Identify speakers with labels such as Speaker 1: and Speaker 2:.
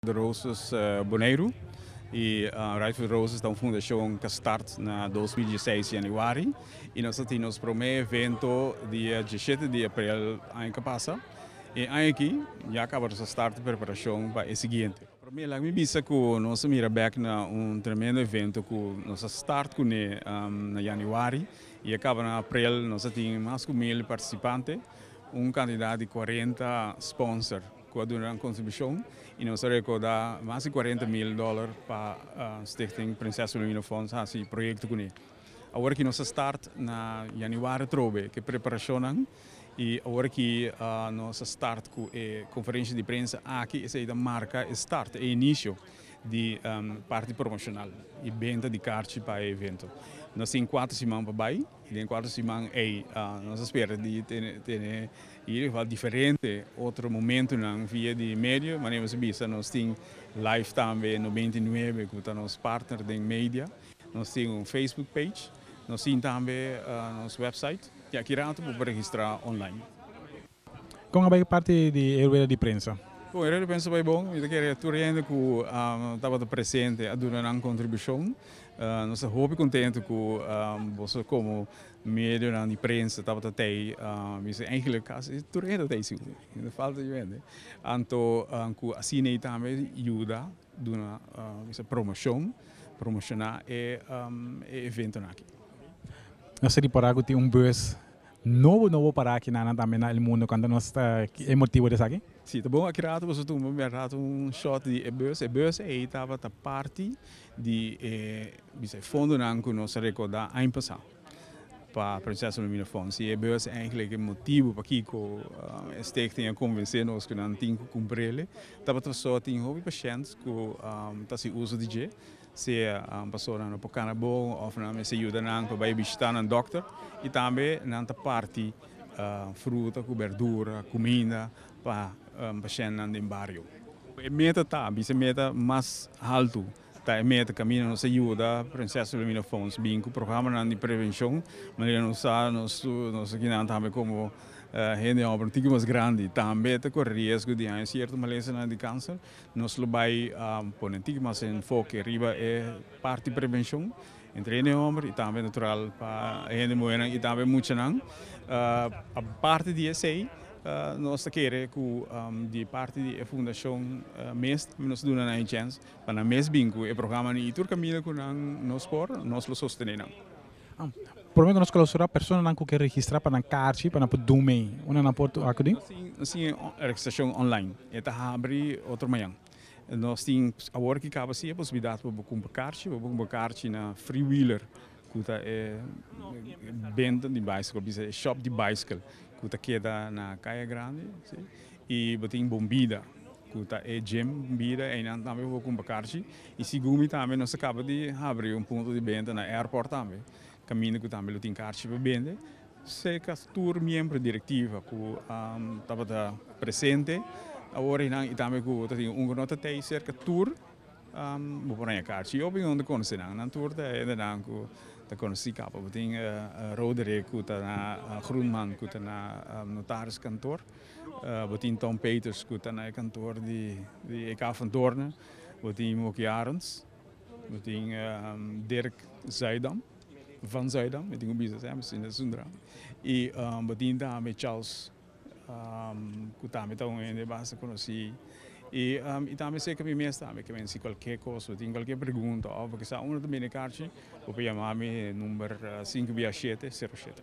Speaker 1: De Roses Boneiru i Right for the Roses ta un fundashon ku a start na dos mil dieseis yanüari i nos a tin nos promé evento dia diesshete di aprel aña ku a pasa. E aña aki ya kaba nos a start preparashon pa e siguiente. Promé laga mi bisa ku nos a mira bek na un tremendo evento ku nos a start kuné na yanüari i a kaba na aprel. Nos a tin mas ku mil partisipante, un kantidat di kuarenta sponsor. cu a duna nan contribucion y nos a recorda mas di cuarenta mil dollar pa Stichting Prinses Wilhelmina Fonds haci proyecto cu ne. Awor aki nos a start na Januari trobe cu e preparacionnan y awor aki nos a start cu e conferencia di prensa aki esey ta marca e start, e inicio, di parti promocional y benta di carchi pa e evento. Nos tin cuatro siman pa bay. Den e kuater siman ei nos a spera di tene i ieder geval diferente otro momentunan via di medio. Manera nos a bisa nos tin live tambe noventa i nuebe ku ta nos partner den media. Nos tin un facebook page, nos tin tambe nos website, di aki rato por registra online.
Speaker 2: Kon a bai e parti di e rueda di prensa? Kon e rueda di prensa bai
Speaker 1: bon? Mi ta kere tur e hende ku tabata presente a duna nan kontribushon. Nos ta hopi kontentu ku boso komo medionan di prensa tabata tei. Mi si enkele kasi tur e hende ta tei si, no falta yu hende. Anto ku asina ei tambe yuda duna bisa promoshon, promoshoná e eventonan aki. Nos
Speaker 2: ta ripará ku tin un bus No bo no bo para aki nanan tambe na el mundo kanta nos ta e motibo di esaki. Si ta bon aki rato boso
Speaker 1: tumba mia rato un short di e bus, e bus ei tabata parti di e bisa e fondonan ku nos a rekorda aña pasa pa Prinses Wilhelmina Fund. Si e bus eindelijk e motibo pakiko e stichting a konvensé nos ku nan tin ku kumpr'ele tabata paso tin hopi pashènt ku ta hasi uso di dje. Si pastonan no por kana bon of nan mester yuda nan pa bai bishita nan dokter y tambe nan ta parti fruta cu berdura cuminda pa pashentnan den bario. E meta ta bisa e meta mas alto ta e meta camina nos ta yuda Prinses Wilhelmina Fonds bin cu programanan di prevencion manera nos sa nos esquinan tambe como hende homber un tiki mas grandi tambe ta cori riesgo di haña cierto malesanan di cancer Nos lo bai pone tin mas enfoke riba e parti prevenshon entre hende homber y tambe natural pa e hende muhernan y tambe muchanan. Aparte di esey nos ta kere cu di parti di e fundashon mes tambe nos duna nan e chens pa nan mes bin cu e programanan y tur caminda cu nan nos por nos lo sostene nan.
Speaker 2: Prome ku nos klausurá personanan ku ke registrá pa nan karchi pa nan por dun mei, unda nan por tok akí? Nos tin e
Speaker 1: registrashon online, e ta habri otro mañan. Nos tin awor ku e kaba así e posibilidat pa bo kumpra karchi, bo por kumpra karchi na Free Wheeler ku ta e benta di bicycle, ku bisa e shop di bicycle ku ta keda na Kaya Grandi, i bo tin Bombida ku ta e gym Bombida einan tambe bo por kumpra karchi Y segun mi tambe nos a caba di habri un punto di benta na airport tambe, caminda cu tambe lo tin carchi pa bende, se cas tur miembro directiva cu tabata presente awor y nan y tambe cu ta tin un cu no ta tey cerca tur bo por haña carchi. Y opinon ta conoce nan, nan tur ta hendenan cu ta conoci caba bo tin Roderick cu ta na Groenman cu ta na notaris kantoor, bo tin Tom Peters cu ta na e kantoor di e Cafundorna. Bo tin Moki Arends, bo tin Dirk Zuidam, Van Zuidam, mi tin ku bisa semper si Nelson Dra, i bo tin tambe Charles ku tambe ta un hende basta konosí, i tambe serka mi mes tambe ke men si kualker kos, bo tin kualker pregunta òf bo kisa unda ta bini karchi, bo por yama mi e number sinku bia shete, sero shete.